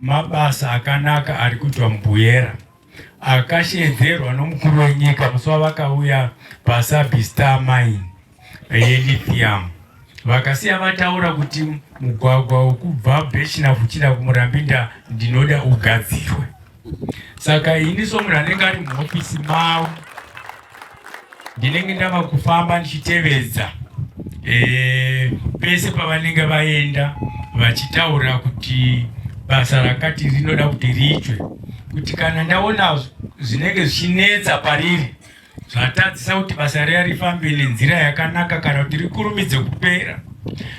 Mabasa akanaka ari kuitwa muBuyera akashedzerwa nomukuru wenyika musi wavakauya paSabi Star Mine yelithium vakasiya vataura kuti mugwagwa wekubva Bhechina kuchida kuMurambinda ndinoda ugadzirwe. Saka ini somunhu anenge ari muhofisi mavo Ndinenge ndava kufamba ndichitevedza eh, pese pavanenge vaenda vachitaura kuti basa rakati rinoda kuti riitwe, kuti kana ndaona zvinenge zvichinetsa pariri zvatadzisa kuti basa riya rifambe nenzira yakanaka kana kuti rikurumidze kupera,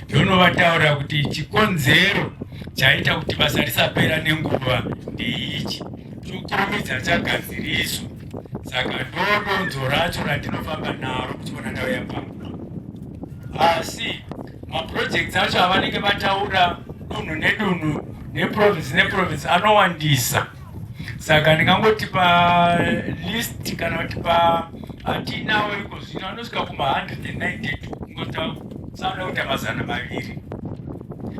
ndonovataura kuti chikonzero chaita kuti basa risapera nenguva ndeichi, chokurumidza chagadziriswa. saka ndodonzo racho randinofamba naro kuchiona ndau yapamba asi maprojects acho avanenge vataura dunhu nedunhu neprovince neprovince anowandisa saka ndingangoti palist kana kuti pa atiinawo iko zvino anosvika kuma192 ingota sanoda kuita mazana maviri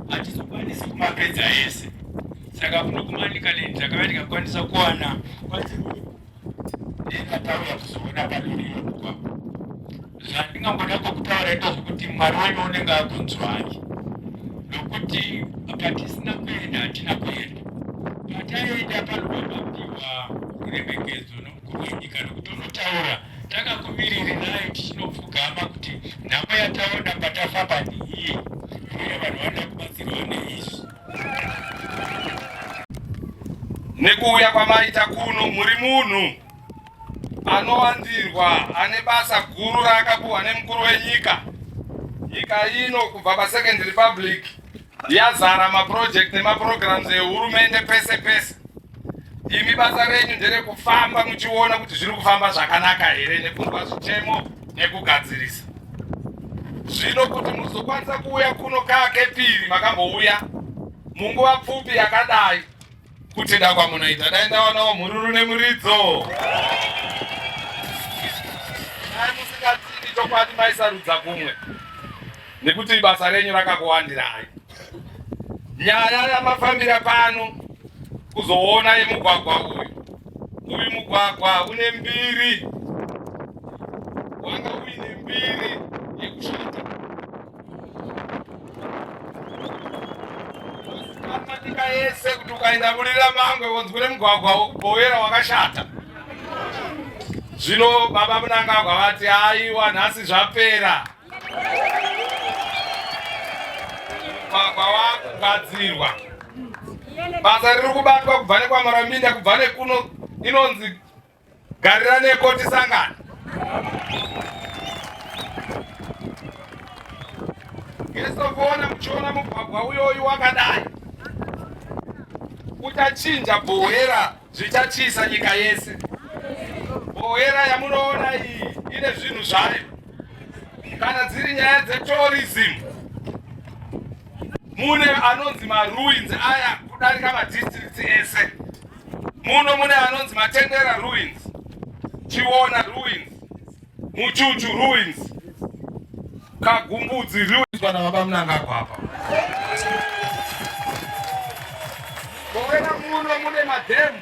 hatizokwanisi kumapedza ese saka kunokumanika neni ndakava ndikakwanisa kuwana kwadziruyo ndinatauya kuzoona padoriyo kuba zvandingangoda kwokutaura ito zvekuti mwari wenyu unenge akunzwai nokuti patisina kuenda hatina kuenda pataenda panobabapiwa ruremekedzo nomukuru wenyika nokuti unotaura takakumiriri naye tichinopfugama kuti nhamo yataona patafamba ndiiye uye vanhu vanoda kubatsirwa neizvi Nekuuya kwamaita kuno muri munhu anowandirwa ane basa guru raakapuhwa nemukuru wenyika. Nyika ino kubva paSecond Republic yazara maproject nemaprograms ehurumende pese pese. imi basa renyu nderekufamba muchiona kuti zviri kufamba zvakanaka here nekunzwa zvitemo nekugadzirisa zvino kuti muzokwanisa kuuya kuno kakepiri makambouya munguva pfupi yakadai kuti dakwa munoita dai ndawanawo mhururu nemuridzo dai musingativi chokwadi maisarudza kumwe nekuti basa renyu rakakuwandirai Nyaya yamafambira pano kuzoona yemugwagwa uyu, uyu mugwagwa une mbiri, wanga uine mbiri yekushata matika yese kuti ukaenda mulira mangwe wonzwire mugwagwa wokubhowera wakashata zvino baba munangagwa vati aiwa nhasi zvapera mugwagwa wakugadzirwa basa riri kubatwa kubva nekwamaraminda kubva nekuno inonzi garira neko tisangana yesokuona muchiona mugwagwa uyoyu wakadai uchachinja bhohera Zvichatyisa nyika yese. Bohera yamunoona iyi ine zvinhu zvayo. Kana dziri nyaya dzetourism, mune anonzi maruins aya kudarika madistricts ese. Muno mune anonzi matendera ruins, chiona ruins Muchuchu ruins. Kagumbudzi ruins kana baba Mnangagwa apa. Kowena muno mune madhemu.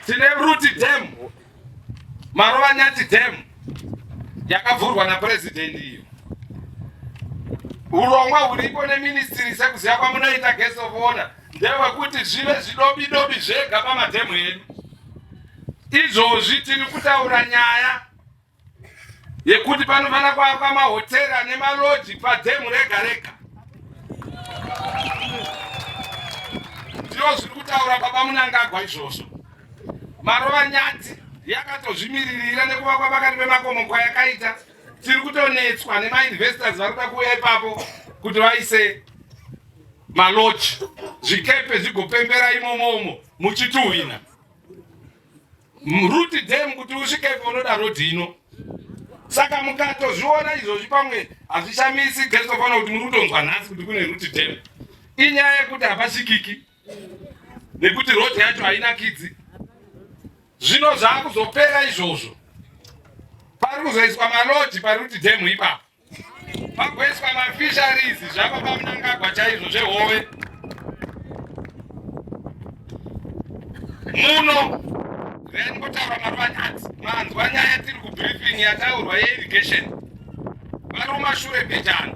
Tine Ruti Dam. Marova Nyati Dam. Yakavhurwa na president iyo. Urongwa huripo ne ministry sekuziva kwamunoita guest of honor ndewekuti zvive zvidobidobi zvega pamadhemu edu. Izvozvi tiri kutaura nyaya yekuti panofanira kuakwa mahotera ane maloji padhemu rega rega. Ndizvo zviri kutaura baba Munangagwa izvozvo. Marova nyati yakatozvimiririra nekuvakwa pakati pemakomo kwayakaita. Tiri kutonetswa nemainvestors vari kuda kuuya ipapo kuti vaise maloji zvikepe zvigopembera imomomo muchituhwina. Root dam kuti usvike ipo unoda road ino. Saka mukatozviona izvozvi pamwe hazvishamisi Kristu fana kuti muri kutonzwa nhasi kuti kune root dam. Inyaya yekuti hapasvikiki nekuti road yacho haina kidzi. Zvino zvakuzopera izvozvo. Pari kuzoiswa malodge paRoot dam ipapo. Pagoiswa mafisheries zvapa pamunangagwa chaizvo zvehove muno reni kutaura maruvanyati manzwa nyaya yatiri kubriefing yataurwa yeirrigation varuma shure bhijana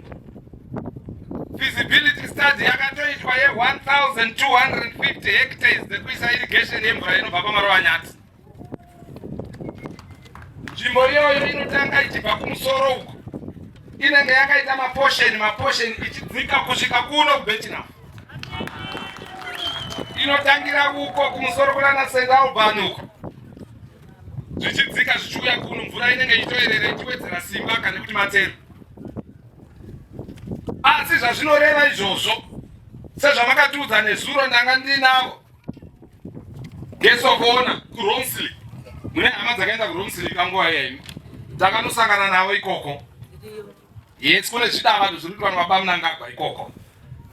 feasibility study yakatoitwa ye 1250 hectares dzekuisa irrigation yemvura inobva pamaruvanyati Nzvimbo iyoyo inotanga ichibva kumusoro uko inenge yakaita maposheni maposheni ichidzika kusvika kuno kubetinaf inotangira uko kumusoro kunana st alban uko zvichidzika zvichiuya kuno mvura inenge ichitoerera ichiwedzera simba kana kuti matero asi zvazvinoreva izvozvo sezvamakatiudza nezuro ndanga ndinavo ngesokoona kuromsly mune hama dzakaenda kuromsly kanguva yaimi takanosangana navo ikoko yes kune zvidavado zviri kuti vanhu vabamunangagwa ikoko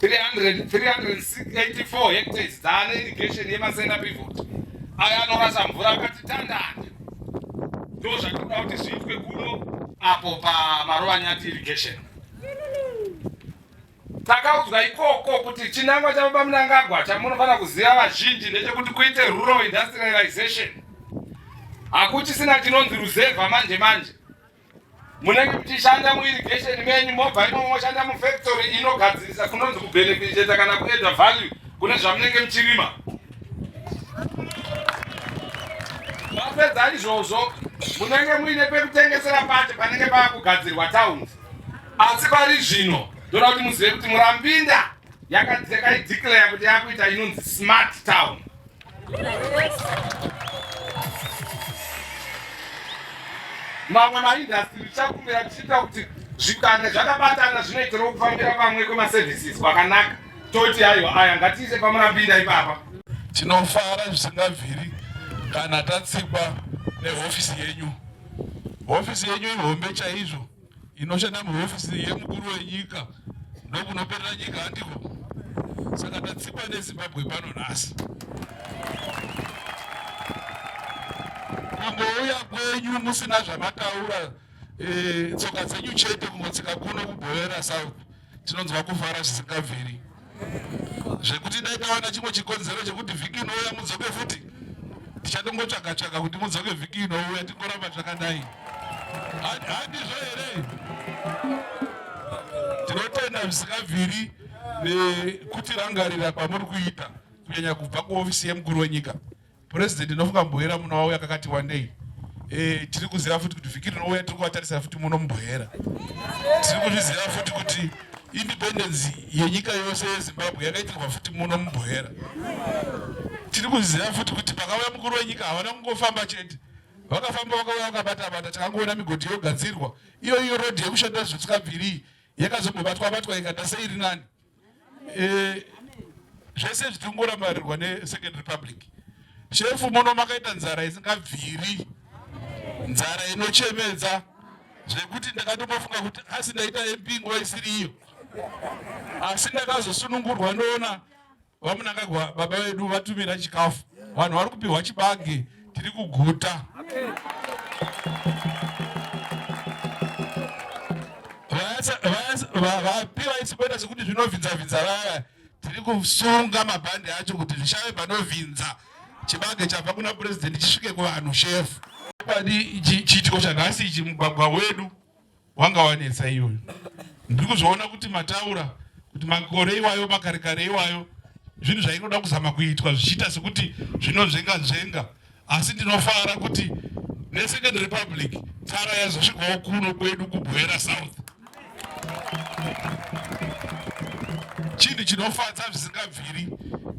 384 hectares dzaane irrigation yemasenda pivot ayo anorasa mvura akati tandande ndo zvatinoda kuti zviitwe kuno apo pamarova nyati irrigation Takaudzwa ikoko kuti chinangwa chaBaba Mnangagwa chamunofanira kuziva vazhinji ndechekuti kuite rural industrialization. Hakuchisina chinonzi ruzevha manje manje. Munenge muchishanda muirrigation menyu mobva imomo moshanda mufactory inogadzirisa kunonzi kubenefiteta kana kuedha value kune zvamunenge muchirima. Mapedza izvozvo munenge muine pekutengesera pacho panenge pava kugadzirwa towns. Asi pari zvino ndoda kuti muzive kuti Murambinda yakaidikireya kuti yakuita inonzi smart town. Mamwe maindastri tichakumbira tichiita kuti zvikanda zvakabatana zvinoitirawo kufambira pamwe kwemaservices kwakanaka toti aiwa aya ngatiise pamurambinda ipapa. Tinofara zvisingabviri kana tatsikwa nehofisi yenyu. Hofisi yenyu ihombe chaizvo. inoshanda muhofisi yemukuru wenyika ndokunoperera nyika handiko saka tatsikwa nezimbabwe pano nhasi kungouya kwenyu musina zvamataura eh, tsoka dzenyu chete kungotsika kuno kubhoera south tinonzwa kufara zvisingabviri zvekuti dai tawana chimwe chikonzero chekuti vhiki inouya mudzoke futi tichatongotsvaga tsvaga kuti mudzoke vhiki inouya tingoramba zvakadai handizvo here tinotenda zvisingabviri nekutirangarira kwamuri kuita kunyanya kubva kuhofisi yemukuru wenyika President ndinofunga Mbohera muno wauya kakati wandei. Eh, tiri kuziva futi kuti vhiki rinouya tiri kuvatarisira futi muno Mbohera. Tiri kuzviziva futi kuti independence yenyika yose yeZimbabwe yakaitirwa futi muno Mbohera. Tiri kuziva futi kuti pakauya mukuru wenyika havana kungofamba chete. Vakafamba vakauya vakabata bata takangoona migodhi yogadzirwa. Iyo iyo road yekushanda zvisikabviri yakazombobatwa batwa ikata sei rinani. eh, zvese zvichingoramarirwa nesecond republic shefu muno makaita nzara isingabviri nzara inochemedza zvekuti ndakatomafunga kuti asi ndaita mp nguva isiri iyo asi ndakazosunungurwa ndoona vamunangagwa baba vedu vatumira chikafu vanhu vari kupiwa chibage tiri kuguta vapi vaisiboita sekuti zvinovhinza vhinza vaya tiri kusunga mabhandi acho kuti zvishave panovhinza chibage chabva kuna purezidenti chisvike kuvanhu shefu chiitiko chanhasi ichi mugwagwa wedu wanga wanetsa iyoyo ndiri kuzviona kuti mataura kuti makore iwayo makare kare iwayo zvinhu zvainoda kuzama kuitwa zvichiita sekuti zvinonzvenga nzvenga asi ndinofara kuti nesecond republic tsara yazosvikawo kuno kwedu kubwera south chinhu chinofadza zvisingabviri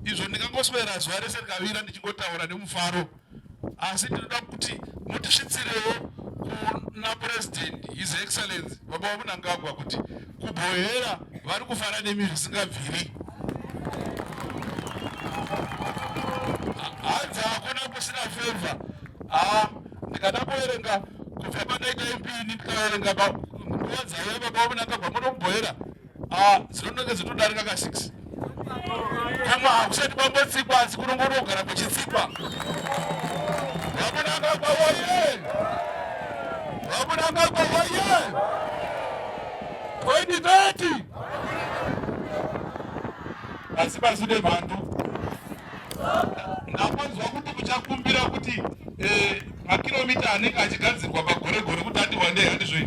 izvo ndingangoswera zuva rese ndikavira ndichingotaura nemufaro asi ndinoda kuti mutisvitsirewo kuna president his excellence baba vamunangagwa kuti kubhohera vari kufana nemi zvisingabviri hanzi hakuna kusina feva haa ndikada kuverenga kubva pandaita mpini ndikaverenga nguva dzaiva baba vamunangagwa muno kubhohera Ah, zinonenge dzinodarika ka six kama hakusati kwambotsikwa asi kunongorogara kuchitsikwa vamunanga kwawaye vamunanga kwawaye 2030 asi paside mhandu ndapanzwa kuti kuchakumbira kuti eh, makiromita anenge achigadzirwa pagoregore kuti ati wandei handizvoii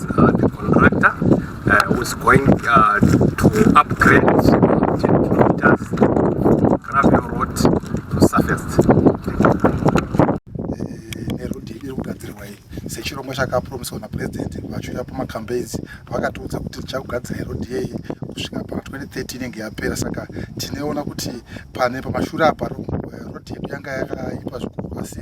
Uh, the contractor uh, was going uh, to upgrade kilometers gravel road to surface nerudhi iri kugadzirwa iyi sechirongwa chakapromiswa napurezidendi vachiuya pamacampaigns vakatiudza kuti tichakugadzira irodhi yeyi kusvika pa 2030 inenge yapera saka tineona kuti pane pamashura apa rodhi yedu yanga yakaipa zvikuru asi